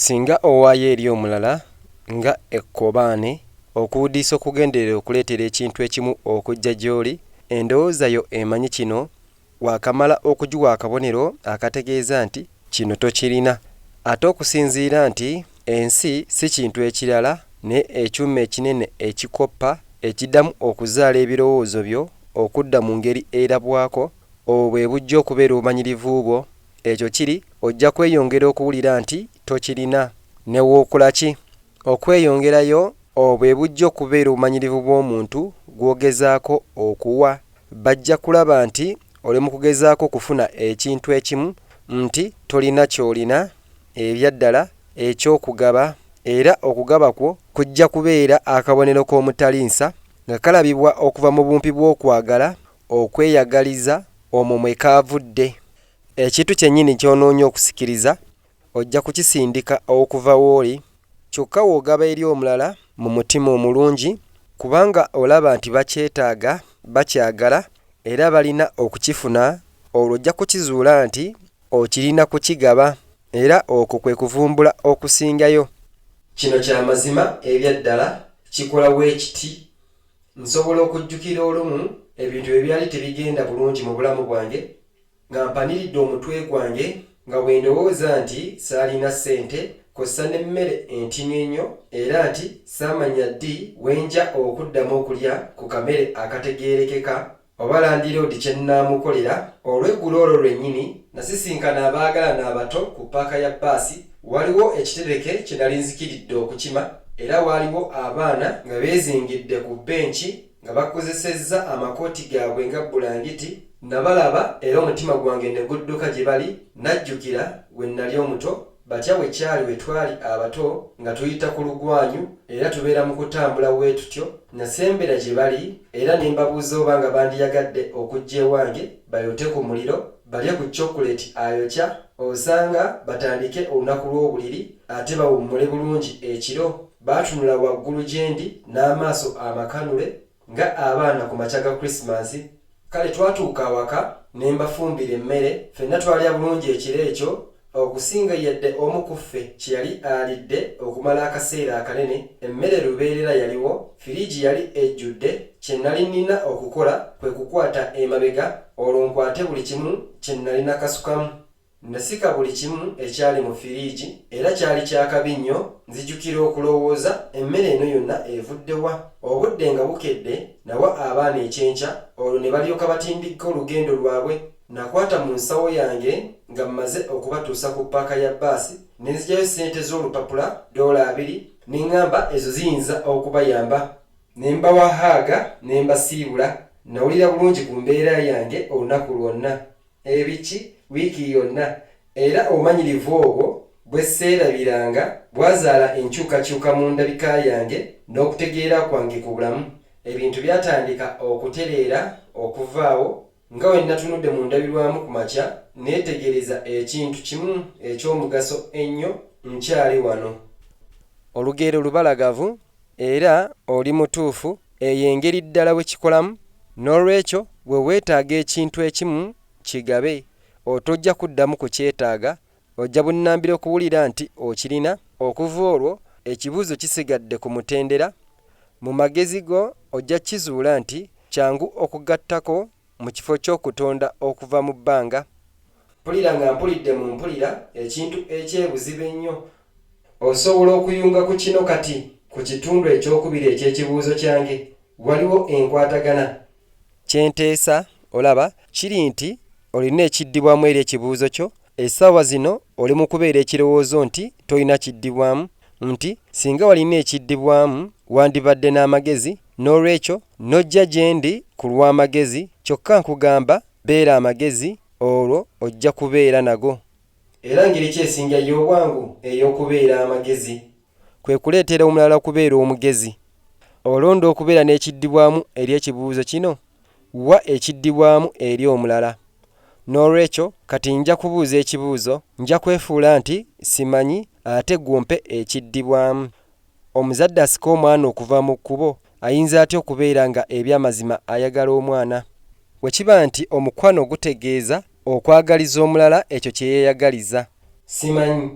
Singa owaayo eri omulala nga ekkobaane, okuwudiisa okugenderera okuleetera ekintu ekimu okujja gy'oli, endowooza yo emanyi kino, waakamala okugiwa akabonero akategeeza nti kino tokirina. Ate okusinziira nti ensi si kintu ekirala naye ekyuma ekinene ekikoppa, ekiddamu okuzaala ebirowoozo byo okudda mu ngeri erabwako, Obwo bwe bujja okubeera obumanyirivu bwo. Ekyo kiri, ojja kweyongera okuwulira nti tokirina. Ne w'okula ki? Okweyongerayo. Obwo bwe bujja okubeera obumanyirivu bw'omuntu gw'ogezaako okuwa. Bajja kulaba nti oli mu kugezaako okufuna ekintu ekimu, nti tolina ky'olina, ebya ddala, eky'okugaba. Era okugaba kwo kujja kubeera akabonero k'omutali nsa, nga kalabibwa okuva mu bumpi bw'okwagala Okweyagaliza, omwo mwe kaavudde. Ekintu kyennyini ky'onoonya okusikiriza, ojja kukisindika okuva w'oli, kyokka w'ogaba eri omulala mu mutima omulungi, kubanga olaba nti bakyetaaga, bakyagala, era balina okukifuna, olwo ojja kukizuula nti okirina kukigaba, era okwo kwe kuvumbula okusingayo. Kino kya mazima ebya ddala, kikola bwe kiti. Nsobola okujjukira olumu ebintu bwe byali tebigenda bulungi mu bulamu bwange, nga mpaniridde omutwe gwange, nga bwe ndowooza nti saalina ssente kw'ossa n'emmere entini ennyo era nti saamanya ddi we nja okuddamu okulya ku kamere akategeerekeka Oba landiroodi kye nnaamukolera, olweggulo olwo lwennyini nasisinkana abaagalana abato ku ppaaka ya bbaasi. Waliwo ekitereke kye nali nzikiridde okukima, era waaliwo abaana nga beezingidde ku bbenci nga bakozesezza amakooti gaabwe nga bbulangiti. Nnabalaba era omutima gwange ne gudduka gye bali, nnajjukira bwe nnali omuto. batya bwe kyali bwe twali abato nga tuyita ku lugwanyu era tubeera mu kutambula bwe tutyo, nnasembera gye bali era ne mbabuuza oba nga bandiyagadde okujja ewange bayote ku muliro, balye ku cokuleti ayokya osanga, batandike olunaku lw'obuliri ate bawummule bulungi ekiro. Baatunula waggulu gye ndi n'amaaso amakanule Nga abaana ku makya ga Krisimansi, kale twatuuka awaka ne mbafumbira emmere. Fenna twalya bulungi ekiro ekyo okusinga yadde omu ku ffe kye yali alidde okumala akaseera akanene. Emmere lubeerera yaliwo, firiigi yali ejjudde, kye nnali nnina okukola kwe kukwata emabega olwo nkwate buli kimu kye nnali nakasukamu. Nasika buli kimu ekyali mu firiigi era kyali kya kabi nnyo. Nzijukira okulowooza, Emmere eno yonna evudde wa? Obudde nga bukedde, nawa abaana ekyenkya olwo ne balyoka batindikka olugendo lwabwe. Nakwata mu nsawo yange nga mmaze okubatuusa ku ppaaka ya bbaasi ne nzigyayo ssente z'olupapula ddoola abiri ne ŋŋamba ezo ziyinza okubayamba. Ne mbawa haaga ne mbasiibula. Nnawulira bulungi ku mbeera yange olunaku lwonna. Ebiki wiiki yonna, era obumanyirivu obwo bwe sseerabiranga bwazaala enkyukakyuka mu ndabika yange n'okutegeera kwange ku bulamu. Ebintu byatandika okutereera okuvaawo nga bwe nnatunudde mu ndabirwamu ku makya nneetegereza ekintu kimu eky'omugaso ennyo nkyali wano. Olugero lubalagavu Era oli mutuufu, eyo engeri ddala bwe kikolamu. N'olwekyo, bwe weetaaga ekintu ekimu, kigabe. Otojja kuddamu kukyetaaga. Ojja bunnambiro kuwulira nti okirina. Okuva olwo, ekibuuzo kisigadde ku mutendera. Mu magezi go, ojja kukizuula nti kyangu okugattako mu kifo ky'okutonda okuva mu bbanga. Mpulira nga mpulidde mu mpulira ekintu eky'ebuziba ennyo Osobola okuyunga ku kino kati ku kitundu eky'okubiri eky'ekibuuzo kyange. Waliwo enkwatagana? Kye nteesa, olaba, kiri nti olina ekiddibwamu eri ekibuuzo kyo. Essaawa zino oli mu kubeera ekirowoozo nti tolina kiddibwamu, nti, Singa walina ekiddibwamu, wandibadde n'amagezi, n'olwekyo n'ojja gye ndi ku lw'amagezi. Kyokka nkugamba, beera amagezi, olwo ojja kubeera nago. Era ngeri ki esinga ey'obwangu ey'okubeera amagezi? Kwe kuleetera omulala okubeera omugezi. Olonda okubeera n'ekiddibwamu eri ekibuuzo kino? Wa ekiddibwamu eri omulala. N'olwekyo, kati nja kubuuza ekibuuzo, nja kwefuula nti simanyi, ate ggwe ompe ekiddibwamu. Omuzadde asika omwana okuva mu kkubo ayinza atya okubeera nga eby'amazima ayagala omwana? Bwe kiba nti omukwano gutegeeza Okwagaliza omulala ekyo kye yeeyagaliza. Simanyi.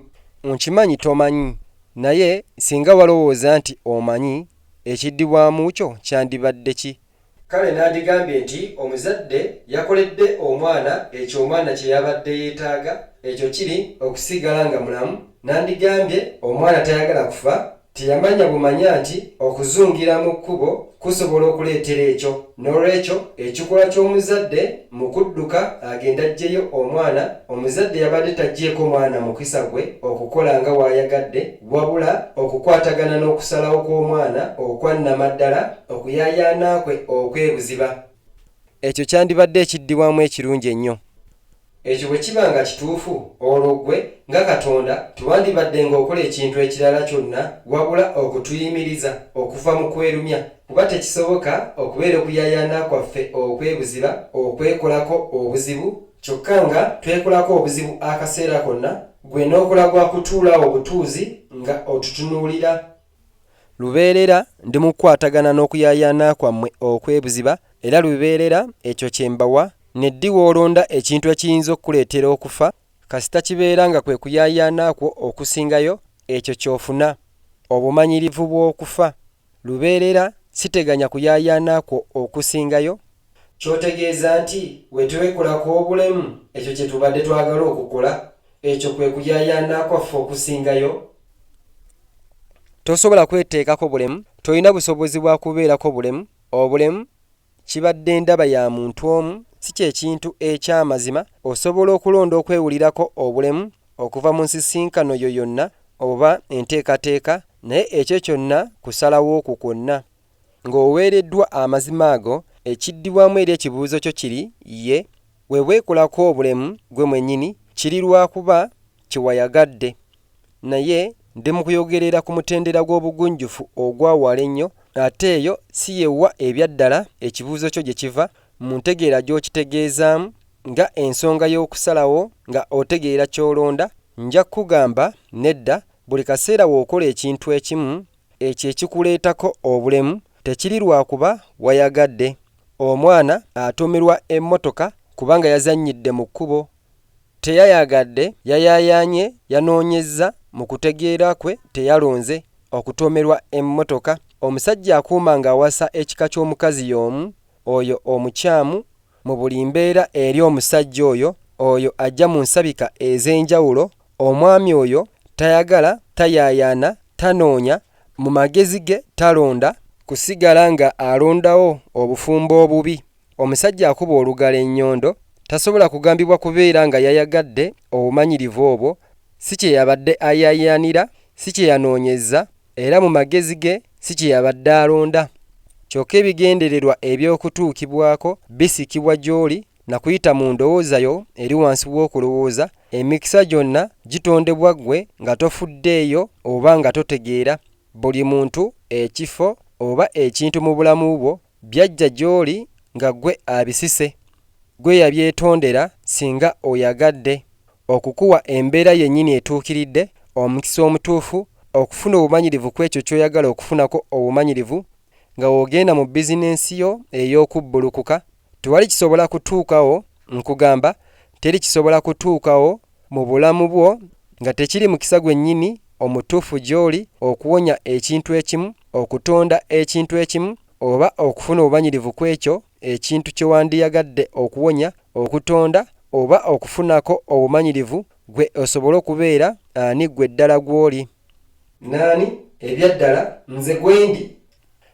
Nkimanyi tomanyi. Naye singa walowooza nti omanyi, ekiddibwamu kyo kyandibadde ki? Kale nandigambye nti omuzadde yakoledde omwana ekyo omwana kye yabadde yeetaaga, ekyo kiri, okusigala nga mulamu. Nandigambye omwana tayagala kufa, Teyamanya bumanya nti okuzungira mu kkubo kusobola okuleetera ekyo. N'olwekyo, ekikolwa ky'omuzadde mu kudduka agende aggyeyo omwana, omuzadde yabadde taggyeeko mwana mukisa gwe okukola nga bw'ayagadde, wabula okukwatagana n'okusalawo kw'omwana okwa nnamaddala, okuyaayaana kwe okw'ebuziba. Ekyo kyandibadde ekiddibwamu ekirungi ennyo. Ekyo bwe kiba nga kituufu, olwo ggwe, nga Katonda, tewandibaddenga okola ekintu ekirala kyonna wabula okutuyimiriza okuva mu kwerumya, kuba tekisoboka okubeera okuyaayaana kwaffe okw'ebuziba okwekolako obuzibu, kyokka nga twekolako obuzibu akaseera konna, ggwe n'okola gwa kutuula awo butuuzi nga otutunuulira. Lubeerera ndi mu kukwatagana n'okuyaayaana kwammwe okw'ebuziba, era lubeerera ekyo kye mbawa. Ne ddi w'olonda ekintu ekiyinza okukuleetera okufa, kasita kibeera nga kwe kuyaayaana kwo okusingayo, ekyo ky'ofuna, obumanyirivu bw'okufa. Lubeerera siteganya kuyaayaana kwo okusingayo, Ky'otegeeza nti bwe twekolako obulemu ekyo kye tubadde twagala okukola? Ekyo kwe kuyaayaana kwaffe okusingayo. Tosobola kweteekako bulemu, tolina busobozi bwa kubeerako bulemu. Obulemu kibadde ndaba ya muntu omu, si kye kintu eky'amazima. Osobola okulonda okwewulirako obulemu okuva mu nsisinkano yo yonna oba enteekateeka, naye ekyo kyonna kusalawo kwo kwonna. Ng'oweereddwa amazima ago, ekiddibwamu eri ekibuuzo kyo kiri Ye. Bwe weekolako obulemu gwe mwennyini, kiri lwa kuba kye wayagadde. Naye ndi mu kuyogerera ku mutendera gw'obugunjufu ogwa wala ennyo, ate eyo si ye wa ebya ddala ekibuuzo kyo gye kiva, mu ntegeera gy'okitegeezaamu, nga ensonga y'okusalawo nga otegeera ky'olonda. Nja kukugamba, Nedda, buli kaseera w'okola ekintu ekimu, Ekyo ekikuleetako obulemu tekiri lwa kuba wayagadde. Omwana atuumirwa emmotoka kubanga yazannyidde mu kkubo. Teyayagadde, yayaayaanye, yanoonyezza, mu kutegeera kwe teyalonze, okutuumirwa emmotoka. Omusajja akuuma ng'awasa ekika ky'omukazi y'omu, oyo omukyamu mu buli mbeera eri omusajja oyo oyo ajja mu nsabika ez'enjawulo, omwami oyo tayagala, tayaayaana, tanoonya, mu magezi ge talonda, kusigala nga alondawo obufumbo obubi, omusajja akuba olugalo ennyondo, tasobola kugambibwa kubeera nga yayagadde obumanyirivu obwo, si kye yabadde ayaayaanira, si kye yanoonyezza, Era mu magezi ge si kye yabadde alonda. Kyokka ebigendererwa eby'okutuukibwako bisikibwa gy'oli na kuyita mu ndowooza yo eri wansi w'okulowooza, emikisa gyonna gitondebwa ggwe nga tofuddeeyo oba nga totegeera. Buli muntu, ekifo, oba ekintu mu bulamu bwo Byajja gyoli nga gwe abisise gwe yabyetondera singa oyagadde okukuwa embeera yenyini etuukiridde, omukisa omutuufu, okufuna obumanyirivu kwekyo kyoyagala okufunako obumanyirivu nga wogenda mu bizinensi yo eyokubbulukuka, tewali kisobola kutuukawo nkugamba teri kisobola kutuukawo mu bulamu bwo nga tekiri mukisa gwennyini omutuufu gy'oli okuwonya ekintu ekimu, okutonda ekintu ekimu, oba okufuna obumanyirivu ku ekyo ekintu kye wandiyagadde okuwonya, okutonda, oba okufunako obumanyirivu gwe osobole okubeera ani ggwe ddala gw'oli? N'ani, ebya ddala, nze gwendi?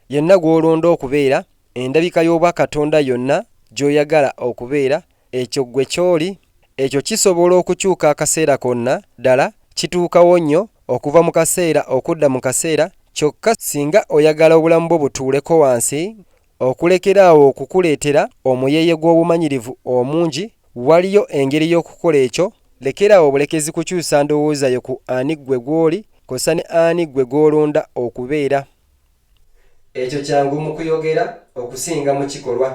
Yenna gw'olonda okubeera, endabika y'obwa Katonda yonna gy'oyagala okubeera, Ekyo ggwe ky'oli. Ekyo kisobola okukyuka akaseera konna, ddala, kituukawo nnyo, okuva mu kaseera okudda mu kaseera, kyokka singa oyagala obulamu bwo butuuleko wansi, okulekera awo okukuleetera omuyeeye gw'obumanyirivu omungi, waliyo engeri y'okukola ekyo. Lekera awo bulekezi kukyusa ndowooza yo ku ani ggwe gw'oli, kwossa ne ani ggwe gw'olonda okubeera. Ekyo kyangu mu kuyogera okusinga mu kikolwa.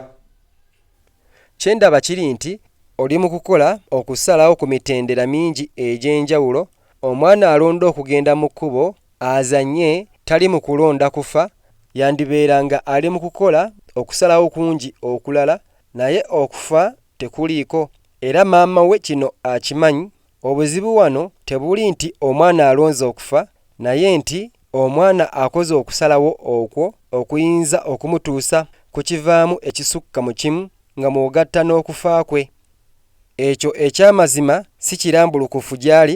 Kye ndaba kiri nti oli mu kukola okusalawo ku mitendera mingi egy'enjawulo omwana alonda okugenda mu kkubo azannye tali mu kulonda kufa, yandibeera nga ali mu kukola okusalawo kungi okulala naye okufa tekuliiko era maama we kino akimanyi Obuzibu wano tebuli nti omwana alonze okufa naye nti omwana akoze okusalawo okwo okuyinza okumutuusa ku kivaamu ekisukka mu kimu nga mw'ogatta n'okufa kwe. Ekyo eky'amazima si kirambulukufu gy'ali,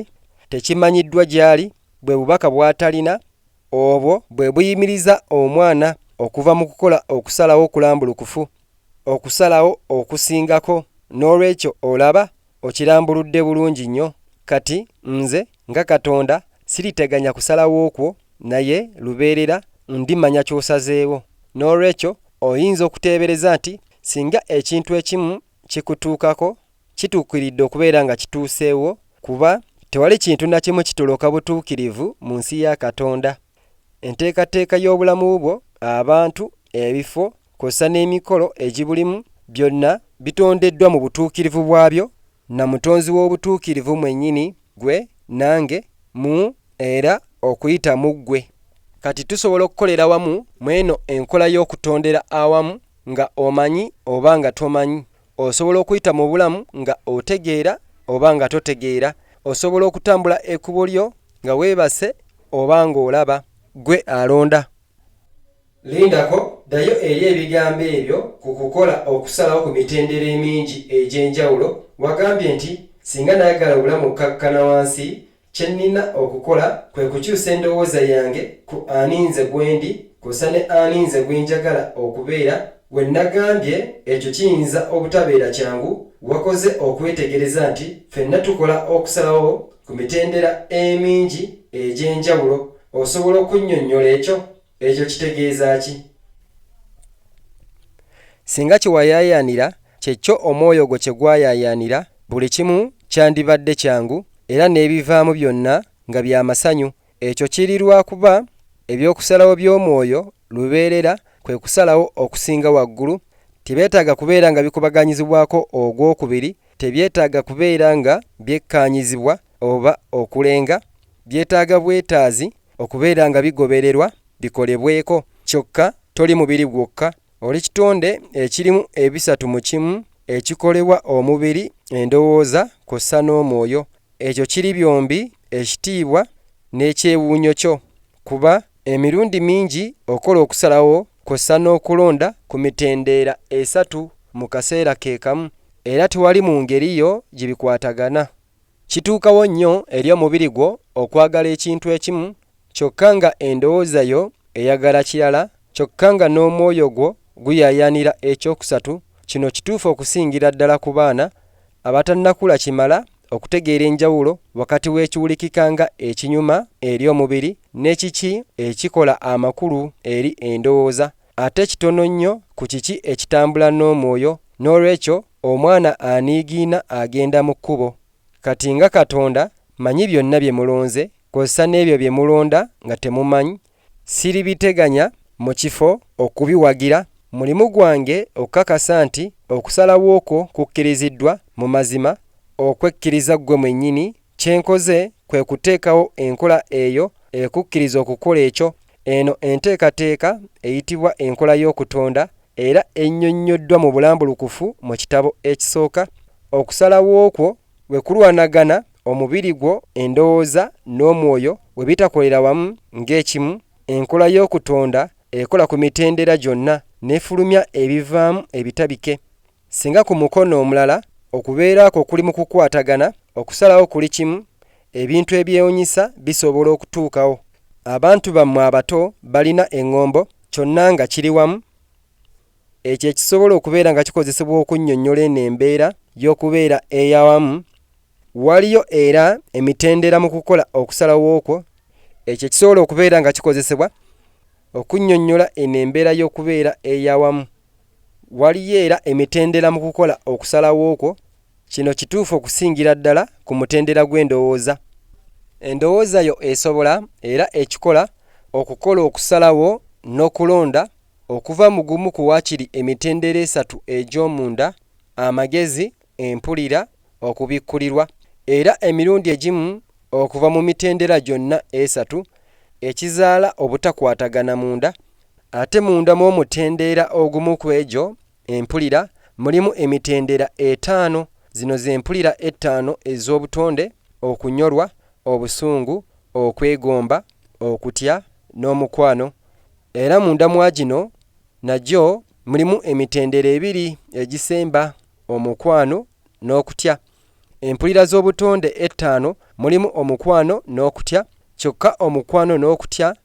tekimanyiddwa gy'ali, bwe bubaka bw'atalina, Obwo bwe buyimiriza omwana okuva mu kukola okusalawo okulambulukufu, okusalawo okusingako. N'olwekyo, olaba, okirambuludde bulungi nnyo. Kati, nze, nga Katonda, ssiriteganya kusalawo kwo, naye, lubeerera, Ndimanya ky'osazeewo. N'olwekyo, oyinza okuteebereza nti, singa ekintu ekimu kikutuukako, kituukiridde okubeera nga kituuseewo kuba tewali kintu na kimu kitoloka butuukirivu mu nsi ya Katonda. Enteekateeka y'obulamu bwo, abantu, ebifo kw'ossa n'emikolo egibulimu byonna bitondeddwa mu butuukirivu bwabyo na Mutonzi w'obutuukirivu mwennyini, ggwe, nange, mu era okuyita mu ggwe. Kati tusobola okukolera wamu mw'eno enkola y'okutondera awamu nga omanyi oba nga tomanyi. Osobola okuyita mu bulamu nga otegeera oba nga totegeera. Osobola okutambula ekubo lyo nga webase oba nga olaba. Gwe alonda. Lindako, ddayo eri ebigambo ebyo ku kukola okusalawo ku mitendera emingi egy'enjawulo. Wagambye nti, Singa nayagala obulamu okukakkana wansi, Kye nnina okukola kwe kukyusa endowooza yange ku ani nze gwendi kwosa ne ani nze gwenjagala okubeera. Bwe nnagambye ekyo kiyinza obutabeera kyangu, wakoze okwetegereza nti fenna tukola okusalawo ku mitendera emingi egy'enjawulo. Osobola okunnyonnyola ekyo? Ekyo kitegeeza ki? Singa kye wayaayaanira kye kyo omwoyo gwo kye gwayaayaanira, buli kimu kyandibadde kyangu era n'ebivaamu byonna nga bya masanyu. Ekyo kiri lwa kuba eby'okusalawo by'omwoyo lubeerera kwe kusalawo okusinga waggulu. Tebyetaaga kubeera nga bikubaganyizibwako ogw'okubiri, tebyetaaga kubeera nga byekkaanyizibwa, oba okulenga byetaaga bwetaazi okubeera nga bigobererwa bikolebweko. Kyokka toli mubiri gwokka, oli kitonde ekirimu ebisatu mu kimu ekikolebwa omubiri, endowooza kw'ossa n'omwoyo. Ekyo kiri byombi ekitiibwa n'ekyewuunyo kyo, kuba emirundi mingi okola okusalawo kw'ossa n'okulonda ku mitendeera esatu mu kaseera ke kamu, era tewali mu ngeri yo gye bikwatagana. Kituukawo nnyo eri omubiri gwo okwagala ekintu ekimu kyokka nga endowooza yo eyagala kirala kyokka nga n'omwoyo gwo guyaayaanira eky'okusatu. Kino kituufu okusingira ddala ku baana abatannakula kimala okutegeera enjawulo wakati w'ekiwulikika nga ekinyuma eri omubiri ne kiki ekikola amakulu eri endowooza. ate kitono nnyo ku kiki ekitambula n'Omwoyo, n'olwekyo omwana aniigiina agenda mu kkubo. Kati nga Katonda manyi byonna bye mulonze, kozesa n'ebyo bye mulonda nga temumany, siribiteganya mu kifo okubiwagira. Mulimu gwange okukakasa nti okusalawo kwo kukkiriziddwa mu mazima, okwekkiriza ggwe mwennyini Kye nkoze kwe kuteekawo enkola eyo ekukkiriza okukola ekyo. Eno enteekateeka eyitibwa enkola y'okutonda, era ennyonnyoddwa mu bulambulukufu mu kitabo ekisooka. Okusalawo kwo bwe kulwanagana, omubiri gwo, endowooza, n'omwoyo bwe bitakolera wamu ng'ekimu, enkola y'okutonda ekola ku mitendera gyonna n'efulumya ebivaamu ebitabike. Singa ku mukono omulala, okubeera kwo kuli mu kukwatagana, okusalawo kuli kimu, ebintu ebyewunyisa bisobola okutuukawo. Abantu bammwe abato balina eŋŋombo, kyonna nga kiri wamu. Ekyo ekisobola okubeera nga kikozesebwa okunnyonnyola eno embeera y'okubeera ey'awamu. Waliyo era emitendera mu kukola okusalawo okwo, ekyo ekisobola okubeera nga kikozesebwa okunnyonnyola eno embeera y'okubeera ey'awamu. Waliyo era emitendera mu kukola okusalawo okwo. Kino kituufu okusingira ddala ku mutendera gw'endowooza. Endowooza yo esobola era ekikola okukola okusalawo n'okulonda okuva mu gumu ku waakiri emitendera esatu egy'omunda, amagezi, empulira, okubikkulirwa, era emirundi egimu okuva mu mitendera gyonna esatu ekizaala obutakwatagana munda, ate munda mw'omutendeera ogumu kw'egyo empulira mulimu emitendera etaano, zino z'empulira ettaano ez'obutonde, okunyolwa, obusungu, okwegomba, okutya, n'omukwano, era munda mwagino nagyo mulimu emitendera ebiri egisemba omukwano n'okutya. Empulira z'obutonde ettaano mulimu omukwano n'okutya. Kyokka omukwano n'okutya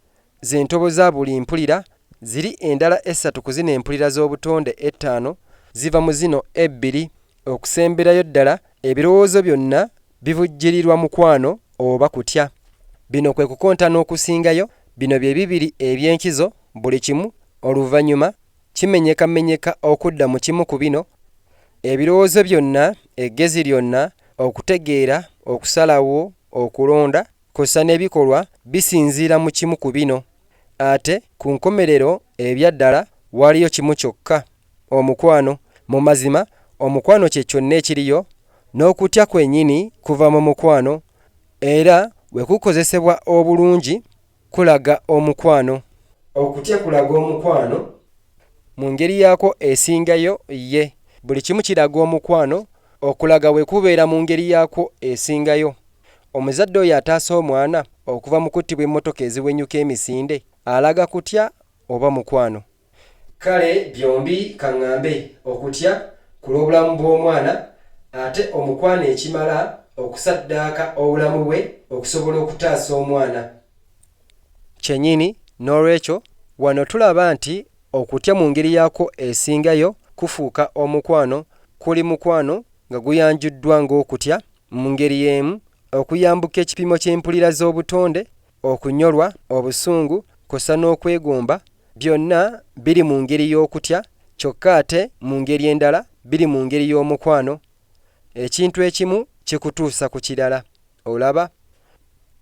ze ntobo za buli mpulira, ziri endala essatu ku zino empulira z'obutonde ettaano ziva mu zino ebbiri. Okusemberayo ddala, ebirowoozo byonna bivujjirirwa mukwano oba kutya. Bino kwe kukontana okusingayo, bino bye bibiri eby'enkizo, buli kimu oluvannyuma kimenyekamenyeka okudda mu kimu ku bino, ebirowoozo byonna, eggezi lyonna, okutegeera, okusalawo, okulonda, kw'ossa n'ebikolwa bisinziira mu kimu ku bino. Ate ku nkomerero ebya ddala waliyo kimu kyokka, omukwano. Mu mazima, omukwano kye kyonna ekiriyo, n'okutya kwenyini kuva mu mukwano, era bwe kukozesebwa obulungi, kulaga omukwano. Okutya kulaga omukwano. Mu ngeri yaakwo esingayo, ye. Buli kimu kiraga omukwano. Okulaga bwe kubeera mu ngeri yaakwo esingayo. Omuzadde oyo ataasa omwana okuva mu kuttibwa emmotoka eziwenyuka emisinde alaga kutya oba mukwano? Kale byombi kaŋŋambe, okutya ku lw'obulamu bw'omwana, ate omukwano ekimala okusaddaaka obulamu bwe okusobola okutaasa omwana. Kyennyini. N'olwekyo, wano tulaba nti okutya mu ngeri yaakwo esingayo kufuuka omukwano, kuli mukwano nga guyanjuddwa ng'okutya, mu ngeri y'emu, okuyambuka ekipimo ky'empulira z'obutonde, okunyolwa, obusungu, kw'ossa n'okwegomba, Byonna biri mu ngeri y'okutya kyokka ate mu ngeri endala biri mu ngeri y'omukwano. Ekintu ekimu kikutuusa ku kirala. Olaba?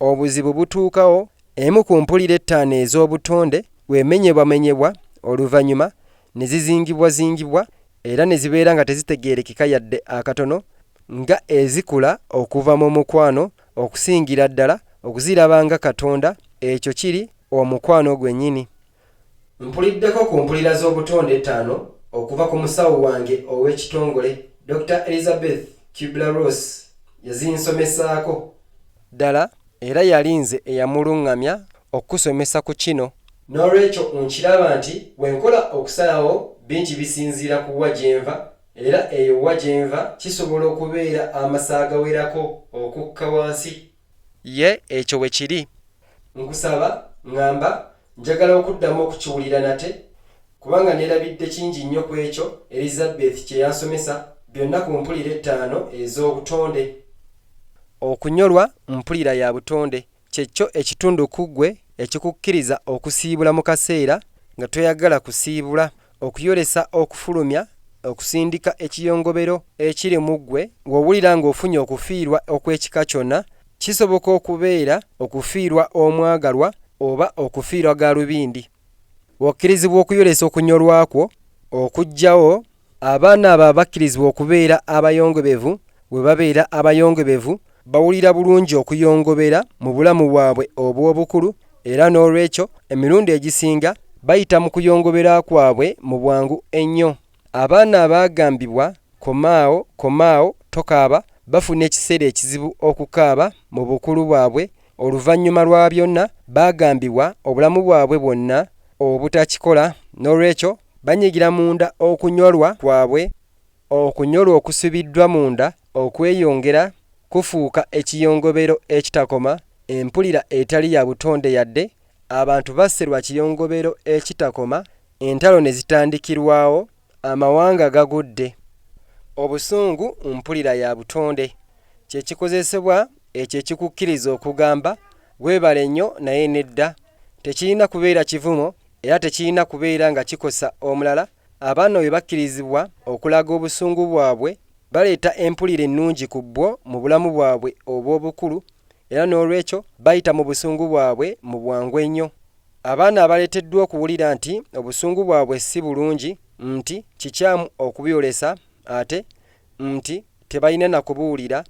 Obuzibu butuukawo. Emu ku mpulira ettaano ez'obutonde bw'emenyebwamenyebwa oluvannyuma ne zizingibwazingibwa era ne zibeera nga tezitegeerekeka yadde akatono nga ezikula okuva mu mukwano okusingira ddala okuziraba nga Katonda, ekyo kiri omukwano gwennyini. Mpuliddeko ku mpulira z'obutonde ettaano okuva ku musawo wange ow'ekitongole, Dokita Elizabeth Kubler-Ross, yazinsomesaako. Ddala, era yali nze eyamuluŋŋamya okukusomesa ku kino. N'olwekyo, nkiraba nti bwe nkola okusalawo bingi bisinziira ku wa gye nva. Era eyo wa gye nva kisobola okubeera amasa agawerako okukka wansi. Ye, ekyo bwe kiri. Nkusaba, ŋŋamba, njagala okuddamu okukiwulira nate, kubanga nneerabidde kingi nnyo ku ekyo Erizabbethi kye yansomesa, byonna ku mpulira ettaano ez'obutonde. Okunyolwa, mpulira ya butonde, Kye kyo ekitundu ku ggwe ekikukkiriza okusiibula mu kaseera nga toyagala kusiibula, okuyolesa okufulumya, okusindika ekiyongobero ekiri mu ggwe ng'owulira ng'ofunye okufiirwa okw'ekika kyonna. Kisoboka okubeera okufiirwa omwagalwa oba okufiirwa galubindi. Okkirizibwa okuyolesa okunyolwa kwo okujjawo abaana abo abakkirizibwa okubeera abayongobevu bwe babeera abayongobevu bawulira bulungi okuyongobera mu bulamu bwabwe obw'obukulu era n'olwekyo emirundi egisinga bayita mu kuyongobera kwabwe mu bwangu ennyo. Abaana abaagambibwa komaawo komaawo tokaaba bafuna ekiseera ekizibu okukaaba mu bukulu bwabwe oluvannyuma lwa byonna baagambibwa obulamu bwabwe bwonna obutakikola n'olwekyo banyigira munda okunyolwa kwabwe okunyolwa okusibiddwa munda okweyongera kufuuka ekiyongobero ekitakoma empulira etali ya butonde yadde Abantu basse lwa kiyongobero ekitakoma, entalo ne zitandikirwawo, amawanga gagudde. Obusungu mpulira ya butonde, kye kikozesebwa ekyo ekikukkiriza okugamba weebale nnyo naye nedda. Tekirina kubeera kivumo era tekirina kubeera nga kikosa omulala. Abaana bwe bakkirizibwa okulaga obusungu bwabwe, baleeta empulira ennungi ku bwo mu bulamu bwabwe obw'obukulu Era n'olwekyo bayita mu busungu bwabwe mu bwangu ennyo. Abaana abaleeteddwa okuwulira nti obusungu bwabwe si bulungi, nti kikyamu okubuyolesa ate nti tebalina na kubuwulira,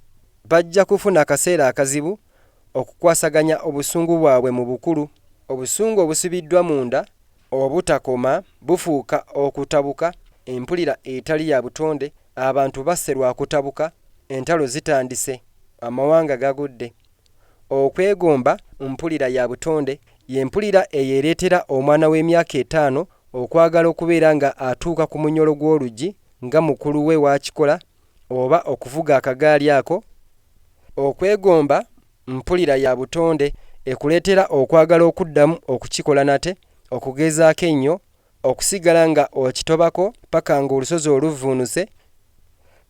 bajja kufuna akaseera akazibu okukwasaganya obusungu bwabwe mu bukulu. Obusungu obusibiddwa munda obutakoma bufuuka okutabuka, empulira etali ya butonde, Abantu basse lwa kutabuka, entalo zitandise, amawanga gagudde. Okwegomba mpulira ya butonde, ye mpulira eyo ereetera omwana w'emyaka etaano okwagala okubeera nga atuuka ku munyolo gw'oluggi nga mukulu we w'akikola oba okuvuga akagaali ako. Okwegomba mpulira ya butonde ekuleetera okwagala okuddamu okukikola nate, okugezaako ennyo, Okusigala nga okitobako paka nga olusozi oluvvuunuse,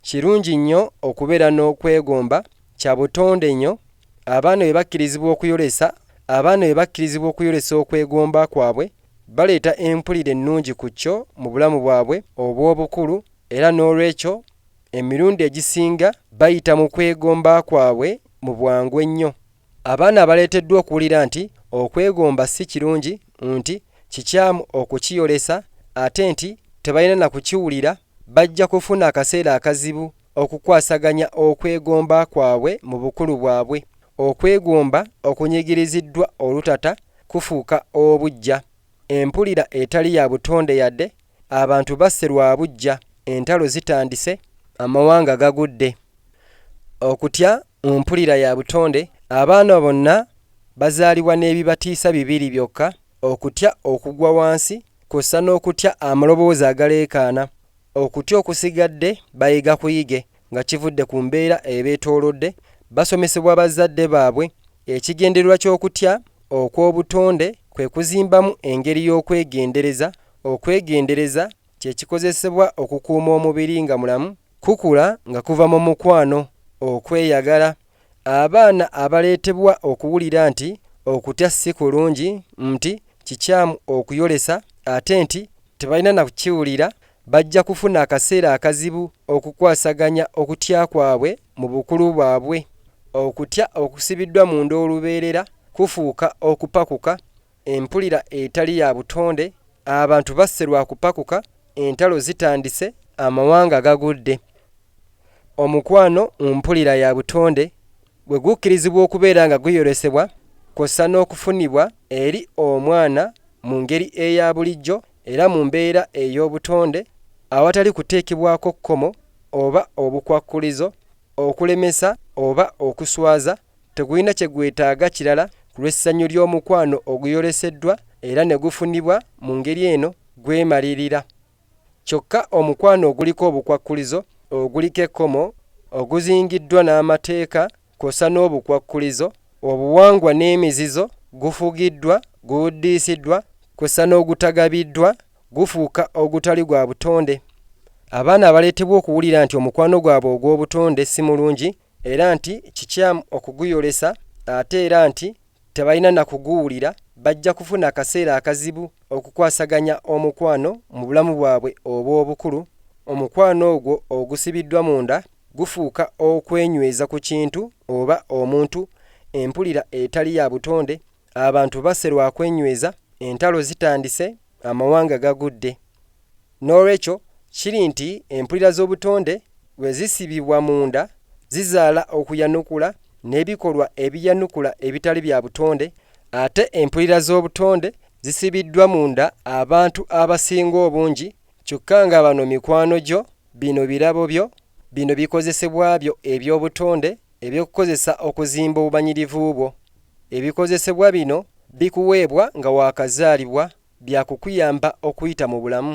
kirungi nnyo okubeera n'okwegomba, kya butonde nnyo, abaana bwe bakkirizibwa okuyolesa abaana bwe bakkirizibwa okuyolesa okwegomba kwabwe, baleeta empulira ennungi ku kyo mu bulamu bwabwe obw'obukulu era n'olwekyo emirundi egisinga bayita mu kwegomba kwabwe mu bwangu ennyo Abaana baleeteddwa okuwulira nti okwegomba si kirungi, nti kikyamu okukiyolesa ate nti tebalina na kukiwulira. Bajja kufuna akaseera akazibu okukwasaganya okwegomba kwabwe mu bukulu bwabwe. Okwegomba okunyigiriziddwa olutata kufuuka obuggya, empulira etali ya butonde yade, abantu basse lwa buggya, entalo zitandise, amawanga gagudde, okutya, Mu mpulira ya butonde, abaana bonna bazaalibwa n'ebibatiisa bibiri byokka, okutya okugwa wansi kw'ossa n'okutya amaloboozi agaleekaana. Okutya okusigadde bayiga kuyige nga kivudde ku mbeera ebeetoolodde, basomesebwa bazzadde baabwe. Ekigendererwa ky'okutya okw'obutonde kwe kuzimbamu engeri y'okwegendereza, okwegendereza, kye kikozesebwa okukuuma omubiri nga mulamu, kukula nga kuva mu mukwano, okweyagala, abaana abaleetebwa okuwulira nti okutya si kulungi, nti kikyamu okuyolesa ate nti tebalina na kukiwulira, bajja kufuna akaseera akazibu okukwasaganya okutya kwabwe mu bukulu bwabwe. Okutya okusibiddwa munda olubeerera kufuuka okupakuka Empulira etali ya butonde, abantu basse lwa kupakuka, entalo zitandise, amawanga gagudde. Omukwano mu mpulira ya butonde bwe gukkirizibwa okubeera nga guyolesebwa kw'ossa n'okufunibwa eri omwana mu ngeri eya bulijjo era mu mbeera ey'obutonde awatali kuteekebwako kkomo oba obukwakkulizo okulemesa oba okuswaza Tegulina kye gwetaaga kirala ku lw'essanyu ly'omukwano oguyoleseddwa era ne gufunibwa mu ngeri eno gwemalirira. Kyokka omukwano oguliko obukwakkulizo, oguliko ekkomo, oguzingiddwa n'amateeka kw'ossa n'obukwakkulizo, obuwangwa n'emizizo, gufugiddwa, guwuddiisiddwa kw'ossa n'ogutagabiddwa, gufuuka ogutali gwa butonde. Abaana abaleetebwa okuwulira nti omukwano gwabwe ogw'obutonde si mulungi era nti kikyamu okuguyolesa ate era nti tebalina na kuguwulira bajja kufuna akaseera akazibu okukwasaganya omukwano mu bulamu bwabwe obw'obukulu omukwano ogwo ogusibiddwa munda gufuuka okwenyweza ku kintu oba omuntu empulira etali ya butonde Abantu basse lwa kwenyweza, entalo zitandise, amawanga gagudde. N'olwekyo, kiri nti empulira z'obutonde bwe zisibibwa munda zizaala okuyanukula n'ebikolwa ebiyanukula ebitali bya butonde, ate empulira z'obutonde zisibiddwa munda abantu abasinga obungi kyokka nga bano mikwano gyo, bino birabo byo, bino bikozesebwa byo eby'obutonde, Eby'okukozesa okuzimba obumanyirivu bwo. Ebikozesebwa bino bikuweebwa nga waakazaalibwa bya kukuyamba okuyita mu bulamu.